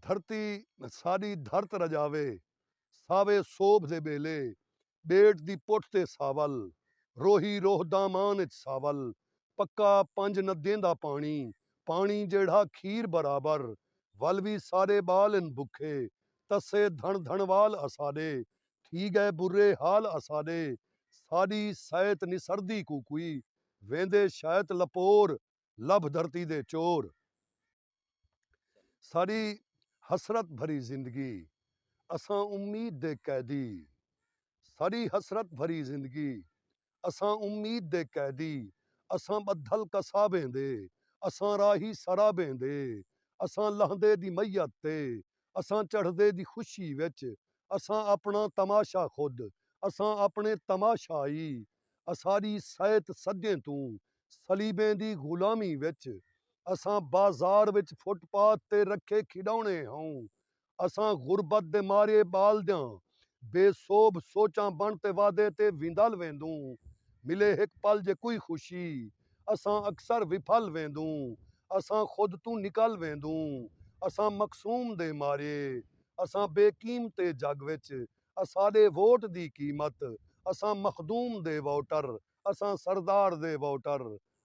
دھرتی ساݙی دھرت رڄاوے ساوے سوبھ دے ٻیلے ٻیٹ دی پٹھ تے ساول روہی روہ دامان اچ ساول پکا پنج نہ دیندا پاݨی پاݨی جیڑھا کھیر برابر ول وی سارے ٻال ان بکھے تسے دھݨ دھݨ وال اساݙے تھی ڳئے برے حال اساݙے ساݙی سئیت نسردی کوکوئی ویندے شئیت لپور لبھ دھرتی دے چور۔ ساݙی حسرت بھری زندگی اساں امید دے قیدی ساݙی حسرت بھری زندگی اساں امید دے قیدی اساں ٻدھل قصابیں دے اساں راہی سرابیں دے اساں لہندے دی میت تے اساں چڑھدے دی خوشی وچ اساں آپݨاں تماشا خود اساں آپݨے تماشائی اساݙی سئیت سڳیں توں صلیبیں دی غلامی وچ اساں بازار وچ فٹ پاتھ تے رکھے کھیݙاوݨے ہئوں اساں غربت دے مارے ٻالدیاں بے سوبھ سوچاں بݨ تے وادے تے ویندال ویندوں ملے ہک پل جے کوئی خوشی اساں اکثر وپھل ویندوں اساں خود توں نکل ویندوں اساں مقسوم دے مارے اساں بے قیمتے جڳ وچ اساڈے ووٹ دی قیمت اساں مخدوم دے ووٹر اساں سردار دے ووٹر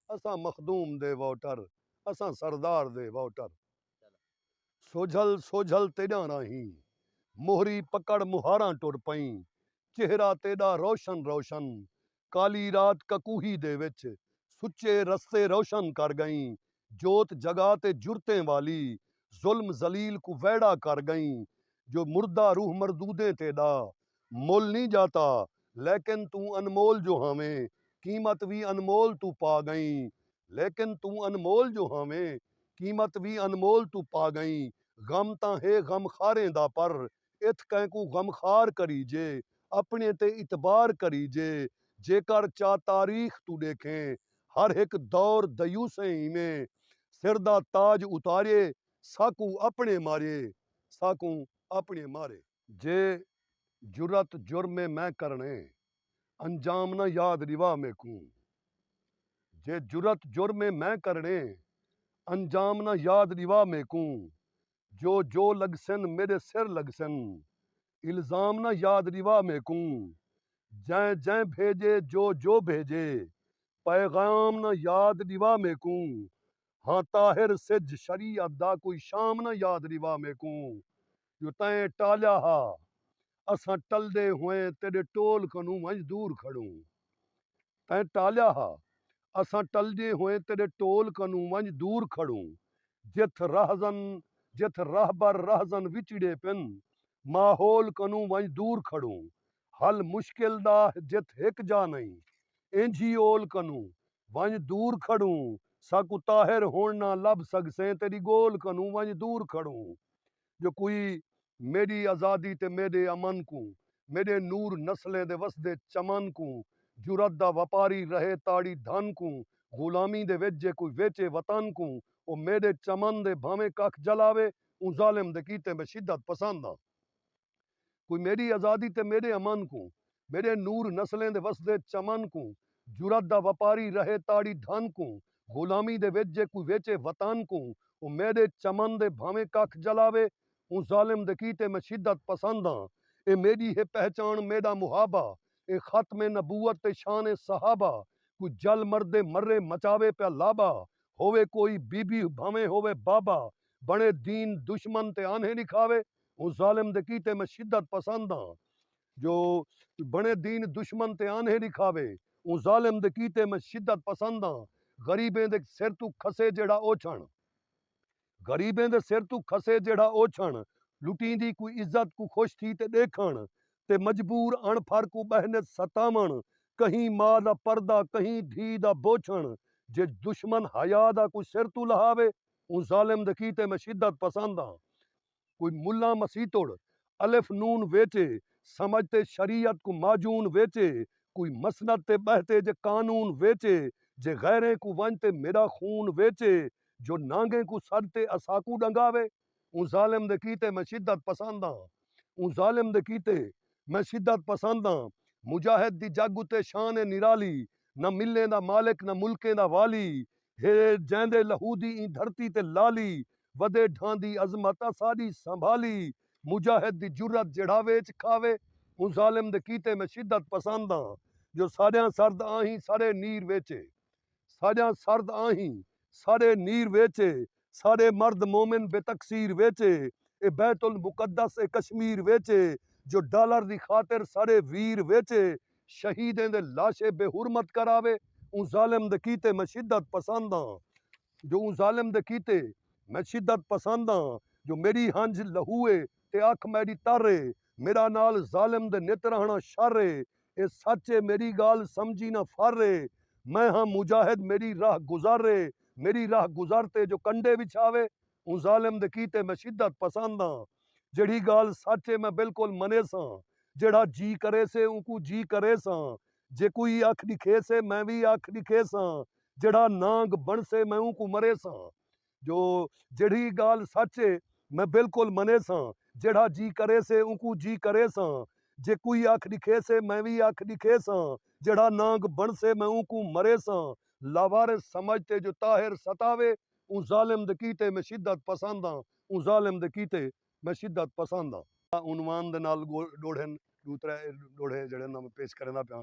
اساں مخدوم دے ووٹر اساں سردار دے ووٹر سوجھل سوجھل تیڈاں راہیں موہری پکڑ مہاراں ٹر پئیں چہرہ تیڈا روشن روشن کالی رات ککوہی دے وچ سچے رستے روشن کر ڳئیں جوت جگا تے جرتیں والی ظلم ذلیل کوں ویڑھا کر ڳئیں جو مردہ روح مردودیں تیݙا مل نی ڄاتا لیکن توں انمول جو ہاویں قیمت وی انمول توں پا ڳئیں لیکن توں انمول جو ہاویں قیمت وی انمول توں پا ڳئیں غم تاں ہے غم خاریں دا پر اتھ کئیں کوں غم خوار کریجے اپݨیں تے اعتبار کریجے جیکر چا تاریخ توں ݙیکھیں ہر ہک دور دیوسیں ایویں سر دا تاج اتاریے ساکوں اپݨیں ماریے ساکوں اپݨیں مارے۔ جے جرات جرم اے میں کرݨے انجام نہ یاد ݙیوا میکوں جے جرات جرم اے میں کرݨے انجام نہ یاد ݙیوا میکوں جو جو لڳسن میݙے سر لڳسن الزام نہ یاد ݙیوا میکوں جئیں جئیں بھیڄے جو جو بھیڄے پیغام نہ یاد ݙیوا میکوں ہاں طاہر سجھ شریعت دا کوئی شام نہ یاد ݙیوا میکوں جو تئیں ٹالیا ہا اساں ٹلدے ہوئیں تیݙے ٹول کنوں ونڄ دور کھڑوں۔ تیں ٹالیا ہا۔ اساں ٹلدے ہوئیں تیݙے ٹول کنوں ونڄ دور کھڑوں۔ جتھ راہزن جتھ راہبر راہزن وچڑے پن۔ ماحول کنوں ونڄ دور کھڑوں۔ حل مشکل دا جتھ ہک جاہ نئیں۔ اینجھی اول کنوں ونڄ دور کھڑوں۔ ساکوں طاہر ہݨ نہ لبھ سڳسیں تیݙی ڳول کنوں ونڄ دور کھڑوں۔ جو کوئی میݙی آزادی تے میݙے امن کوں، میݙے نور نسلیں دے وسدے چمن کوں، جرات دا وپاری رہے تاڑی دھن کوں، غلامی دے وچ جے کوئی ویچے وطن کوں، او میݙے چمن دے بھانویں ککھ جلاوے، اوں ظالم دے کیتے میں شدت پسند ہاں۔ کوئی میݙی آزادی تے میݙے امن کوں میݙے نور نسلیں دے وسدے چمن کوں جرات دا وپاری رہے تاڑی دھن کوں غلامی دے وچ جے کوئی ویچے وطن کوں او میݙے چمن دے بھانویں ککھ جلاوے اوں ظالم دے کیتے میں شدت پسند ہاں اے میݙی ہے پہچاݨ میݙا محابہ اے ختم نبوت تے شان اے صحابہ کوئی جل مردے مرے مچاوے پیا لابہ ہووے کوئی بی بی بھانویں ہووے بابہ بݨے دین دشمن تے آنہیں ݙکھاوے او ظالم دے کیتے میں شدت پسند آں جو بنے دین دشمن تے آنھے ݙکھاوے او ظالم دے کیتے میں شدت پسند آں غریبیں دے سر توں کھسے جیڑھا اوچھݨ غریبیں دے سر توں کھسے جیڑھا اوچھݨ لٹیں دی کوئی عزت کوں خوش تھی تے ݙیکھݨ تے مجبور اݨ پھر کوں ٻہہ نت ستاوݨ کہیں ماء دا پردہ کہیں دھی دا بوچھݨ جے دشمن حیا دا کوئی سر توں لہاوے او ظالم دے کیتے میں شدت پسند آں۔ کوئی ملاں مسیتڑ الف نون ویچے سمجھ تے شریعت کوں معجون ویچے کوئی مسند تے ٻہہ تے جے قانون ویچے جے غیریں کوں ونڄ تے میݙا خون ویچے جو نانگیں کوں سݙ تے اساکوں ݙنگاوے اوں ظالم دے کیتے میں شدت پسند ہاں اوں ظالم دے کیتے میں شدت پسند ہاں مجاہد دی جڳ اتے شان اے نرالی نہ ملیں دا مالک نہ ملکیں دا والی ہے جیندے لہو دی ایں دھرتی تے لالی ودے ڈھاندی عظمت اساڈی سنبھالی مجاہد دی جرات جیڑھا ویچ کھاوے اوں ظالم دے کیتے میں شدت پسند آں جو ساڈیاں سرد آہیں سڑے نیر ویچے ساڈیاں سرد آہیں سڑے نیر ویچے سارے مرد مومن بے تقصیر وچ اے اے بیت المقدس اے کشمیر وچ اے جو ڈالر دی خاطر سارے ویر وچ اے شہیدیں دے لاشے بے حرمت کراوے اوں ظالم دے کیتے میں شدت پسند آں جو اوں ظالم دے کیتے میں شدت پسند آں جو میڈی ہنجھ لہو اے تے اکھ میڈی تر اے میڈا نال ظالم دے نت رہنا شر اے اے سچ اے میݙی ڳالھ سمجھی نہ فر اے میں ہاں مجاہد میݙی راہ گزر اے میݙی راہ گزر تے جو کنڈے وچھاوے اوں ظالم دے کیتے میں شدت پسند آں جیڑھی ڳالھ سچ اے میں بالکل منیساں جیڑھا جی کریسے اونکوں جی کریساں جیکوئی اکھ ݙکھیسے میں وی اکھ ݙکھیساں جیڑھا نانگ بݨسے میں اونکوں مریساں جو جیڑھی ڳالھ سچ اے میں بالکل منیساں، جیڑھا جی کریسے اونکوں جی کریساں، جے کوئی اکھ ݙکھیسے میں وی اکھ ݙکھیساں، جیڑھا نانگ بݨسے میں اونکوں مریساں۔ لاوارث سمجھ تے جو طاہر ستاوے اوں ظالم دے کیتے میں شدت پسند آں، اوں ظالم دے کیتے میں شدت پسند آں۔ عنوان دے نال ڈوڑھن ݙو ترے ڈوڑھے جیڑھے انہاں میں پیش کریندا پیاں۔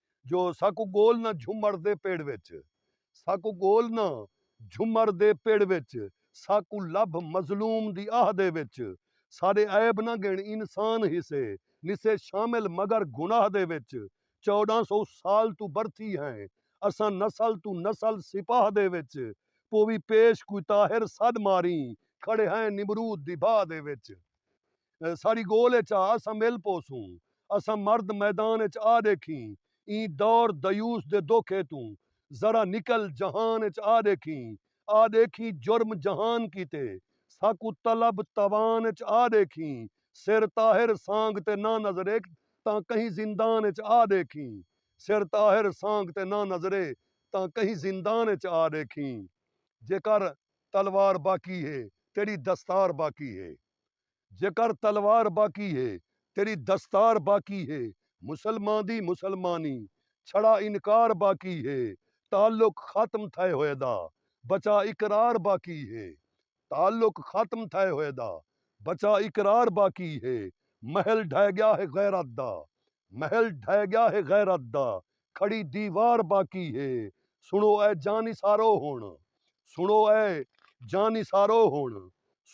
جو ساکوں گول نہ جھمر دے پیڑ وچ ساکوں گول نہ جھمر دے پیڑ وچ ساکوں لبھ مظلوم دی آہ دے وچ سارے عیب نہ گن انسان حصے نسے شامل مگر گناہ دے وچ چوڈاں سو سال توں برتھی ہیں اساں نسل توں نسل سپاہ دے وچ پوی پیش کوئی طاہر سڈ ماریں کھڑے ہیں نمرود دی باہ دے وچ۔ ساݙی ڳول اچ آ اساں مل پوسوں اساں مرد میدان اچ آ ݙیکھیں ایں دور دیوس دے دکھ ایتوں ذرا نکل جہان اچ آ ݙیکھیں آ ݙیکھیں جرم جہان کیتے ساکوں طلب توان اچ آ ݙیکھیں سر طاہر سانگھ تے نہ نظرے تاں کہیں زندان اچ آ ݙیکھیں سر طاہر سانگھ تے نہ نظرے تاں کہیں زندان اچ آ ݙیکھیں جیکر تلوار باقی ہے تیݙی دستار باقی ہے جیکر تلوار باقی ہے تیݙی دستار باقی ہے مسلماں دی مسلمانی چھڑا انکار باقی ہے تعلق ختم تھئے ہوئے دا بچا اقرار باقی ہے تعلق ختم تھئے ہوئے دا بچا اقرار باقی ہے محل ڈھہہ ڳیا ہے غیرت دا محل ڈھہہ ڳیا ہے غیرت دا کھڑی دیوار باقی ہے سنڑو اے جانی سارو ہنڑ سنڑو اے جانی سارو ہنڑ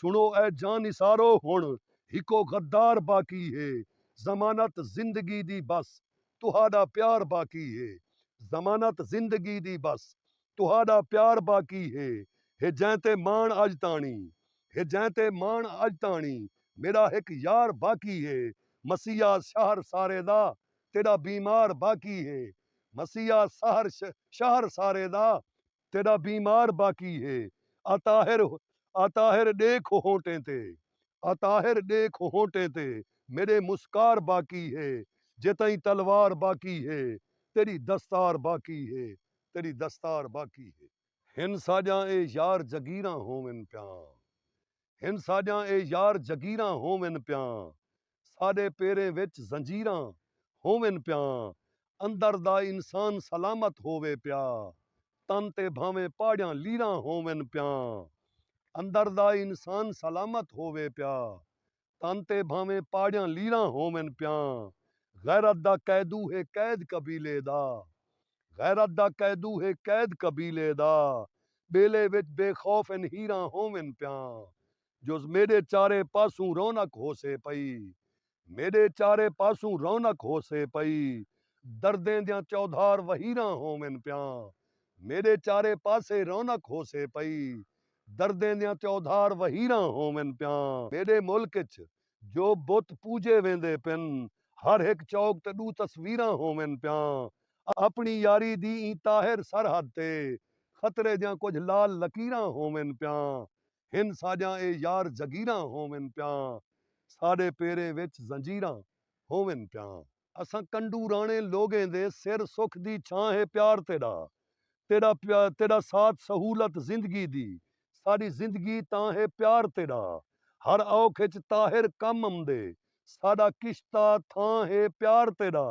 سنڑو اے جانی سارو ہنڑ ہکو غدار باقی ہے ضمانت زندگی دی بس تہاڈا پیار باقی ہے ضمانت زندگی دی بس تہاڈا پیار باقی ہے ہے جیں تے ماݨ اڄ تاݨی ہے جیں تے ماݨ اڄ تاݨی میݙا ہک یار باقی ہے مسیہا شہر سارے دا تیݙا بیمار باقی ہے مسیحا سحر شہر سارے دا تیݙا بیمار باقی ہے اطاہر اطاہر ݙیکھ ہونٹیں تے اطاہر ݙیکھ ہونٹیں تے میݙے مسکار باقی ہے جے تئیں تلوار باقی ہے تیݙی دستار باقی ہے تیݙی دستار باقی ہے۔ ہن ساڄاں اے یار جگیراں ہوون پیاں ہن ساݙیاں اے یار جگیراں ہوون پیاں ساݙے پیریں وچ زنجیراں ہوون پیاں اندر دا انسان سلامت ہووے پیا تن تے بھانویں پاڑیاں لیراں ہوون پیاں اندر دا انسان سلامت ہووے پیا تن تے بھانویں پاڑیاں لیراں ہوون پیاں غیرت دا قیدو ہے قید قبیلے دا غیرت دا قیدو ہے قید قبیلے دا ٻیلے وچ بے خوف ان ہیراں ہوون پیاں جز میݙے چارے پاسوں رونق ہوسے پئی میݙے چارے پاسوں رونق ہوسے پئی دردیں دیاں چودھار وہیراں ہوون پیاں میݙے چارے پاسے رونق ہوسے پئی دردیں دیاں چودھار وہیراں ہوون پیاں میݙے ملک اچ جو بت پوجے ویندے پن، ہر ہک چوک تے ڈو تصویراں ہوون پیاں، اپنی یاری دی ایں طاہر سرحد تے خطرے دیاں کجھ لال لکیراں ہوون پیاں، ہن ساجاں اے یار جگیراں ہوون پیاں، ساڈے پیریں وچ زنجیراں ہوون پیاں۔ اساں کنڈو راݨیں لوگیں دے سر سکھ دی چھاں ہے پیار تیݙا تیݙا تیݙا ساتھ سہولت زندگی دی ساݙی زندگی تاں ہے پیار تیݙا ہر اوکھ اچ طاہر کم امدے ساݙا کشتہ تھاں ہے پیار تیݙا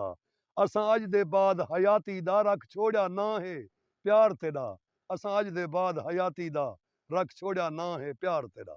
اساں اڄ دے بعد حیاتی دا رکھ چھوڑیا ناں ہے پیار تیݙا اساں اڄ دے بعد حیاتی دا رکھ چھوڑیا ناں ہے پیار تیݙا۔